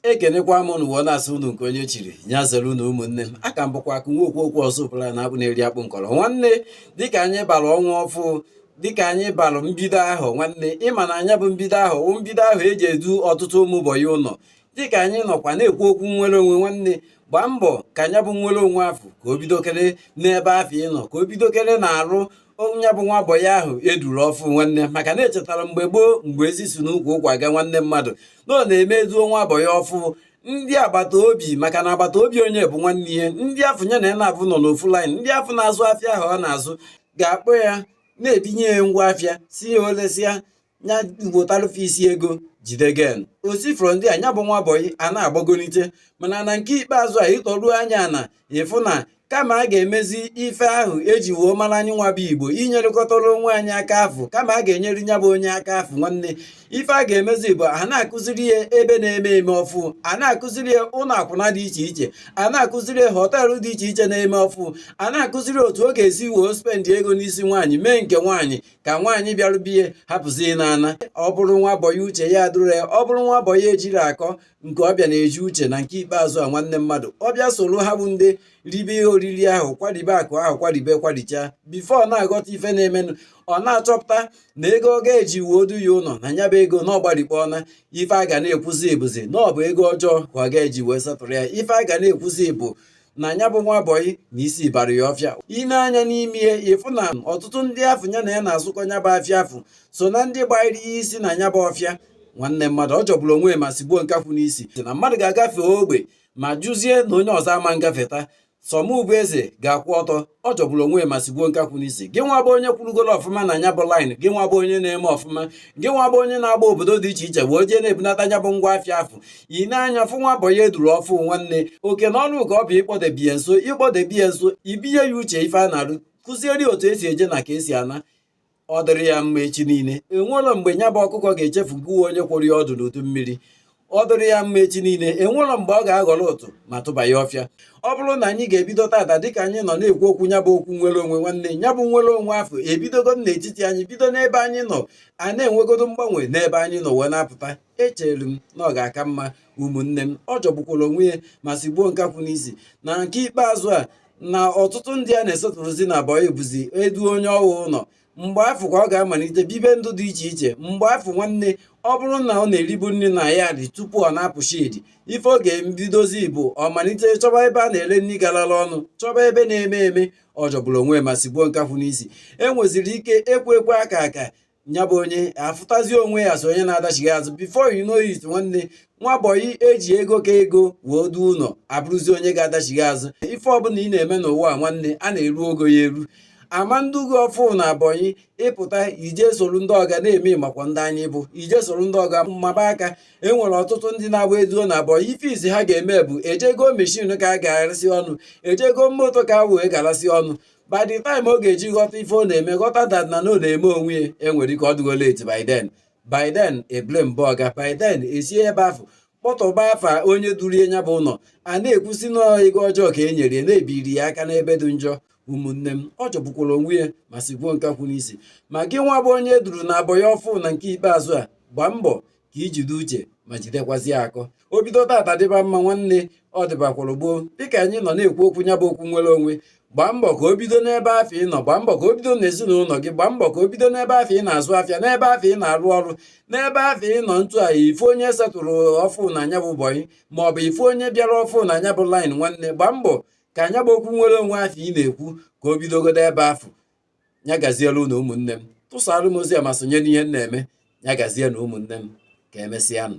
ekenekwa m unu wee na-asị unu nke onye chiri ya zere unu ụmụnne m aka m bụkwa akụ nwa okwu okwu ọzọ ụbụla na akpụ na-eri akpụ nkọrọ nwanne dịka anyị bara ọnwa ọfụ dịka anyị bara mbido afọ nwanne ịma na nya bụ mbido afọ wụ mbido afọ eji edu ọtụtụ ụmụ bọyị ụlọ dịka anyị nọkwa na-ekwu okwu nnwere onwe nwanne gbaa mbọ ka nya bụ nnwere onwe afụ ka o bidokere n'ebe afụ ị nọ ka o bidokere n'arụ onye bụ nwa bọyị ahụ eduru ọfụ nwanne maka na echetara mgbe gboo mgbe ezi si n'ukwu ụkwa aga nwanne mmadụ na ọ na-eme eduo nwa bọyị ọfụ ndị agbata obi maka na agbata obi onye bụ nwanne ya ndị afụ ya na ya na-abụ nọ n'ofu line ndị afụ na-azụ afịa ahụ ọ na-azụ ga-akpọ ya na-ebinye ya ngwa afịa sị ya o lesịa ya butalụ fa isi ego jide gain o si from there nya bụ nwa bọyị a na-agbagolite mana na nke ikpeazụ a ị tọruo anya ana ị fụ na kama a ga-emezi ife ahụ eji wee mara anyị nwa bụ igbo inyerịkọtara onwe anyị aka afụ kama a ga-enyere nya bụ onye aka afụ nwanne ife a ga-emezi bụ a na-akụziri ya ebe na-eme eme ọfụ a na-akụziri ya ụlọ akwụna dị iche iche a na-akụziri ya họteelụ dị iche iche na-eme ọfụ a na-akụziri otu ọ ga-esi wee spendị ego n'isi nwaanyị mee nke nwaanyị ka nwaanyị bịara be ya hapụzi ịna ana ọ bụrụ nwa bọyị uche ya adịrọ ya ọ bụrụ nwa bọyị ejirọ akọ nke ọ bịa na-eji uche na nke ikpeazụ a nwanne mmadụ ọ bịa soro ha bụ ndị ribe ihe oriri ahụ kwaribe akụ ahụ kwaribe kwaricha before ọ na-aghọta ife na-emenụ ọ na-achọpụta na ego ọga ji wee duo ya ụlọ na nya bụ ego na ọ gbarikpọọna ife a ga na-ekwuzi bụzi na ọ bụ ego ọjọọ ka ọga ji wee settle ya ife a ga na-ekwuzi bụ na nya bụ nwa bọyị na isi bara ya ọfịa ị nee anya n'ime ya ị fụ na ọtụtụ ndị afụ ya na ya na-azụkọ nya bụ afịa afụ so na ndị gbanyere ya isi na nya bụ ọfịa nwanne mmadụ ọ jọgburu onwe ya ma sigbuo nkakwụ n'isi na mmadụ ga-agafe ogwe ma jụzie na onye ọzọ ama agafeta sọ mụ bụ eze ga-akwụ ọtọ ọ jọgburu onwe ya ma sigbuo nkakwụ n'isi gị nwa bụ onye kwụrụgoro ọfụma na nya bụ line gị nwa bụ onye na-eme ọfụma gị nwa bụ onye na-agba obodo dị iche iche wee jee na-ebunata nya bụ ngwa afịa afụ ị nee anya fụ nwa bọyị eduru ọfụ nwanne oke na ọrụ gị bụ ịkpọdebe ya nso ịkpọdebe ya nso ibinye ya uche ife a na-arụ kụziere ya otu esi eje na ka esi ana ọ dịrị ya mma echi niile enwerọ mgbe nya bụ ọkụkọ ga-echefu gị nwa onye kworo ya ọdụ n'udu mmiri ọ dịrị ya mma echi niile enwerọ mgbe ọ ga-aghọrọ utu ma tụba ya ọfịa ọ bụrụ na anyị ga-ebido tata dịka anyị nọ na-ekwu okwu nya bụ okwu nnwere onwe nwanne nya bụ nnwere onwe afụ ebidogodo n'etiti anyị bido n'ebe anyị nọ a na-enwegodo mgbanwe n'ebe anyị nọ wee na-apụta echere m na ọ ga-aka mma ụmụnne m ọ jọgbukwara onwe ya ma sigbuo nkakwụ n'isi na nke ikpeazụ a na ọtụtụ ndị a na-esetụlụzi na bọyị bụzi eduo onye ahụ ụlọ mgbe afụ ka ọ ga-amalite bibe ndụ dị iche iche mgbe afụ nwanne ọ bụrụ na ọ na-eribu nri na yard tupu ọ na-apụ shed ife ọ ga-ebidozi bụ ọ malite chọba ebe a na-ere nri garala ọnụ chọba ebe na-eme eme ọ jọgburu onwe ma sigbuo nkakwụ n'isi e nweziri ike ekwe ekwe aka aka nya bụ onye afụtazi onwe ya so onye na-adachighị azụ before you know it nwanne nwa bọyị eji ego ka ego wee du ụlọ abụrụzi onye ga-adachighị azụ ife ọbụla ị na-eme n'ụwa nwanne a na-eru ogo ya eru a ma-edu gị ọfụ na bọyị ị pụta i je soro ndị ọga na-eme makwa ndị anyị bụ i je soro ndị ọga maba aka enwere ọtụtụ ndị na-abụ e duo na bọyị ife izizi ha ga-eme bụ e je goo meshin ka a ga-arasị ọnụ e je goo moto ka a wee garasị ọnụ by the time ọ ga-eji ghọta ife ọ na-eme ghọta that na na ọ na-eme onwe ya enwere ike ọ dịgo late by then by then e blame-ba ọga by then esie ebe afụ kpọtọba afa onye duru ya nya bụ ụlọ a na-ekwusi n'ego ọjọọ ka e nyere ya na e biri ya aka n'ebe dị njọ ụmụnne m ọ jọgbukwara onwe ya ma sigbuo nkakwụ n'isi ma gị nwa bụ onye e duru na bọyị ọfụ na nke ikpeazụ a gbaa mbọ ka i jide uche ma jidekwazie akọ o bido tata dịba mma nwanne ọ dịbakwara gboo dịka anyị nọ na-ekwu okwu nya bụ okwu nnwere onwe gbaa mbọ ka o bido n'ebe afụ ị nọ gbaa mbọ ka o bido n'ezinụlọ gị gbaa mbọ ka o bido n'ebe afụ ị na-azụ afịa n'ebe afụ ị na-arụ ọrụ n'ebe afụ ị nọ ntu ahụ ife onye setụrụ ọfụ na nya bụ bọyị ma ọ bụ ife onye bịara ọfụ na nya bụ line nwanne gbaa mbọ ka nya bụ okwu nnwere onwe afụ ị na-ekwu ka o bidogodo ebe afụ ya gaziere unu ụmụnne m tụsaara m ozi a ma sonye n'ihe m na-eme ya gazie na ụmụnne m ka emesịanụ